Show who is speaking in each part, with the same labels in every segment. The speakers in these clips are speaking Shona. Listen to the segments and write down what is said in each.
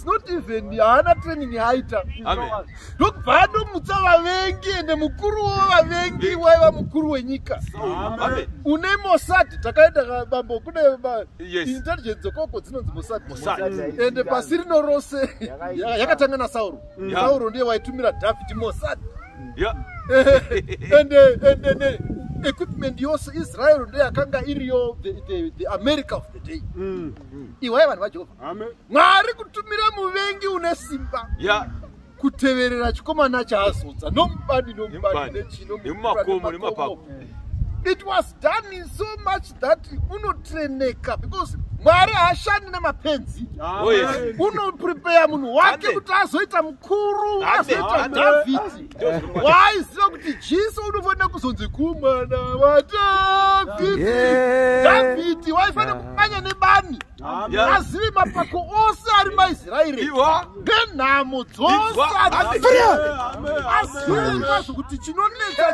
Speaker 1: not even haana training yaaita ndokubva anomutsa vavengi ende mukuru wevavengi waiva mukuru wenyika une mosad takaenda bambo kune intelligence dzokoko dzinonzi mosad ende pasi rino rose yakatanga nasauro sauro ndiye waitumira david mosad ende ende equipment yose israel ndeyo yakanga iriyo the america of the day mm. iwaye vanhu vajehovha mwari kutumira muvengi une simba yeah kuteverera chikomana chaazodza nomubani nomubani nechino nemumakomo nemapapo it was done in so much that unotreneka because mwari haashandi nemapenzi ah, oh, unoprepeya munhu wake kuti azoita mukuru azoita dhavhidi waaiziva kuti jesu unofanira kuzonzi kumwana wadhavhidi dhavhidi waifanira kumanya nebani azivi mapako ose ari maisraeri nenhamo dzose azivaizvo kuti chinonetsa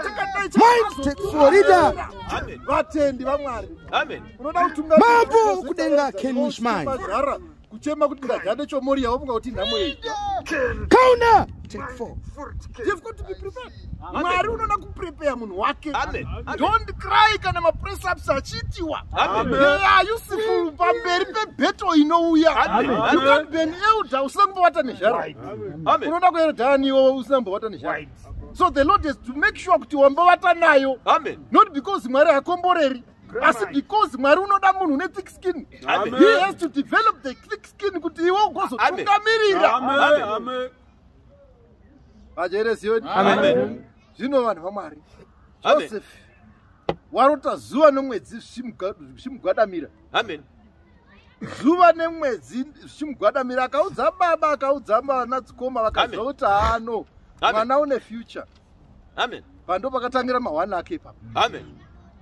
Speaker 2: chakadaivatendi
Speaker 1: vamwari unoda kutumamambo kudenga
Speaker 2: kenwishmazara kuchema
Speaker 1: kuti ndagande chomoriya wobunga kuti nhamo yei kauna mwari unoda kuprepeya munhu wake dont cry kana mapressups achiitiwa eya yusifu pamberi pebeto inouya you can be an elder usina kumbovata nezhara unoda kuelda aniwo usina kumbovata nezhara so the lord has to make sure kuti wambovata nayo not because mwari hakomboreri asi because mwari unoda munhu une thick skin he has to develop the thick skin kuti iwe ugozotungamirira vajeresiyoni zvino vanhu vamwari joseph warota zuva nomwedzi zvichimugwadamira amen zuva nemwedzi zvichimugwadamira akaudza baba akaudza vana dzikoma vakaziva kuti haano mwana une future amen pando pakatangira mahwani ake ipapo amen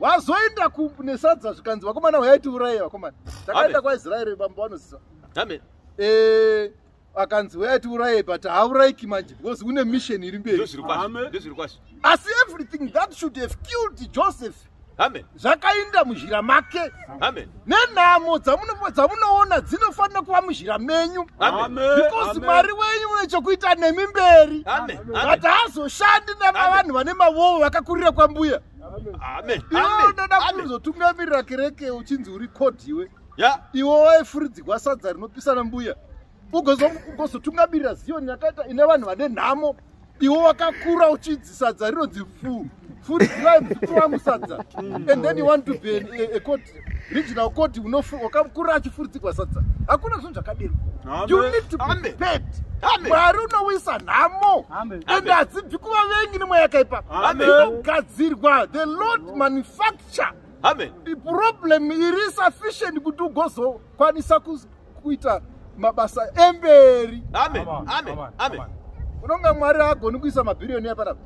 Speaker 1: wazoenda kunesadza zvikanzi vakomana huyai tiuraye vakomana takaenda kwaisraeri bambo vanoziva amen eh, akanzi waya tiuraye but haaurayiki manje because une mission iri mberi asi everything that should have killed joseph zvakainda muzhira make nenhamo dzamunoona dzinofanira kuva muzhira menyu because mwari wenyu une chokuita nemi mberi but haazoshandi nemavanhu vane mavovo vakakurira kwambuya inoda kuzotungamirira kereke uchinzi uri kodiwe ya iwe waifuridzigwa sadza rinopisana mbuya ugozotungamirira ziyoni yakaita ine vanhu vane nhamo iwe wakakura uchidzi sadza rinonzi fu furidzirai muzukuru wangu sadza and then you want to be a, a court regional court wakakura achifuridzigwa sadza hakuna zvinhu zvakadero you need to be paid mwari unowisa nhamo ende hadzibvi kuvavengi nemweya yakaipa inogadzirwa the lord manufacture amen problem iri sufficient kuti ugozokwanisa kuita mabasa emberi amen amen amen unonga mwari agoni kuisa mabhiriyoniya panapa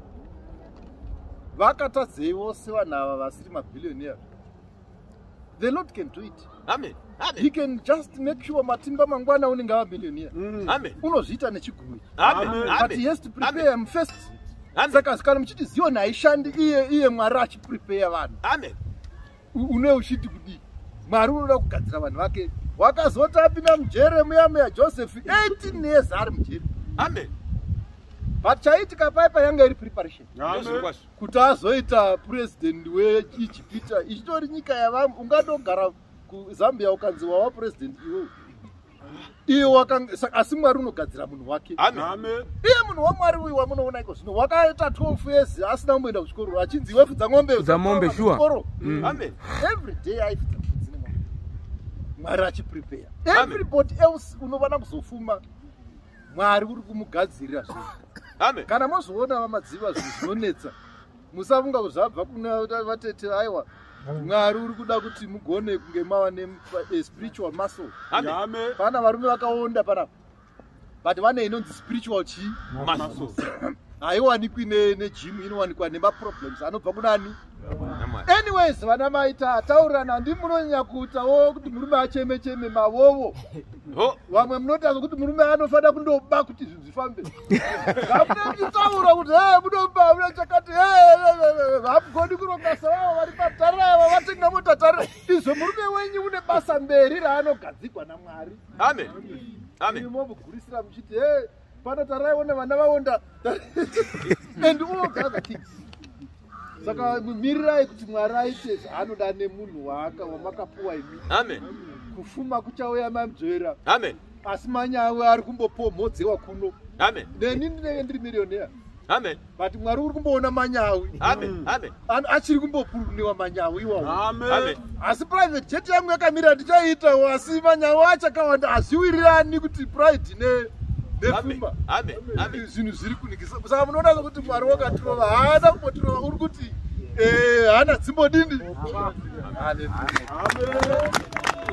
Speaker 1: vakatadzei vose vanhu ava vasiri mabhiriyoniya the lord can do it Amen. Amen. He can just make sure matimba mangwana unenge ava millionaire. Mm. Amen. Unozviita nechigumi. Amen. Amen. But he has to prepare him first. Amen. Saka kana muchiti Zion haishandi iye iye Mwari achiprepare vanhu. Amen. Une uchiti kudii? Mwari unoda kugadzira vanhu vake. Wakazoti apinda mujere muya muya Joseph 18 years ari mujere. Amen. But chaitika paipa yanga iri preparation. Amen. kuti azoita president weijipita ichitori nyika yavamwe ungatogara kuzambia ukanzi wava president iwewe iwe asi mwari unogadzira munhu wake iye munhu wamwari uyu wamunoona iko zvino wakaita 12 years asina kumboenda kuchikoro achinzi iwe fudza mombe fudza mombe sure mm.
Speaker 2: amen
Speaker 1: every day aifudza mwari achiprepare everybody else unovana kuzofuma mwari uri kumugadzirira zvinhu kana mozoona vamadziva zvinhu zvinonetsa musafunga kuti zvabva kuna vatete aiwa mwari uri kuda kuti mugone kunge mava nespiritual muscle pana varume vakaonda pana but vane inonzi spiritual chii haiwanikwi nejimu inowanikwa nemaproblems anobva kunani anyways vana mai tataurirana handi munonyanya kuutawo kuti murume acheme cheme mavovo vamwe munotanga kuti murume anofanira kundoba kuti izvi zvifambe amunenditaura kuti e munoba mune chakati hamugoni kurongasa vavo vari patare ava vatenga motatare izvo murume wenyu une basa mberi raanogadzigwa namwari amen amen imomugurisira muchiti e Pano taraiwo nevana vaonda and all other things. Saka mirirai kuti Mwari aite zvaanoda nemunhu waaka wamakapuwa imi. Amen.
Speaker 3: Kufuma
Speaker 1: kuchauya mamzvera. Amen. Asi
Speaker 3: manyawe
Speaker 1: ari kumbopomhodzewa kuno. Amen. Neni
Speaker 3: ndinenge ndiri
Speaker 1: millionaire. Amen. but
Speaker 3: mwari uri kumboona
Speaker 1: manyawi mm.
Speaker 3: achiri kumbopuruniwa
Speaker 1: manyawi iwawo asi
Speaker 3: private jet
Speaker 1: yangu yakamira ndichaitawo asi manyawi achakawanda hazviwirirani kuti pride ne nefumba
Speaker 3: zvinhu zviri kunikisa
Speaker 1: kusaka munoona sokuti mwari wakatirova haana kumbotirova uri kuti eh, haana dzimbo dini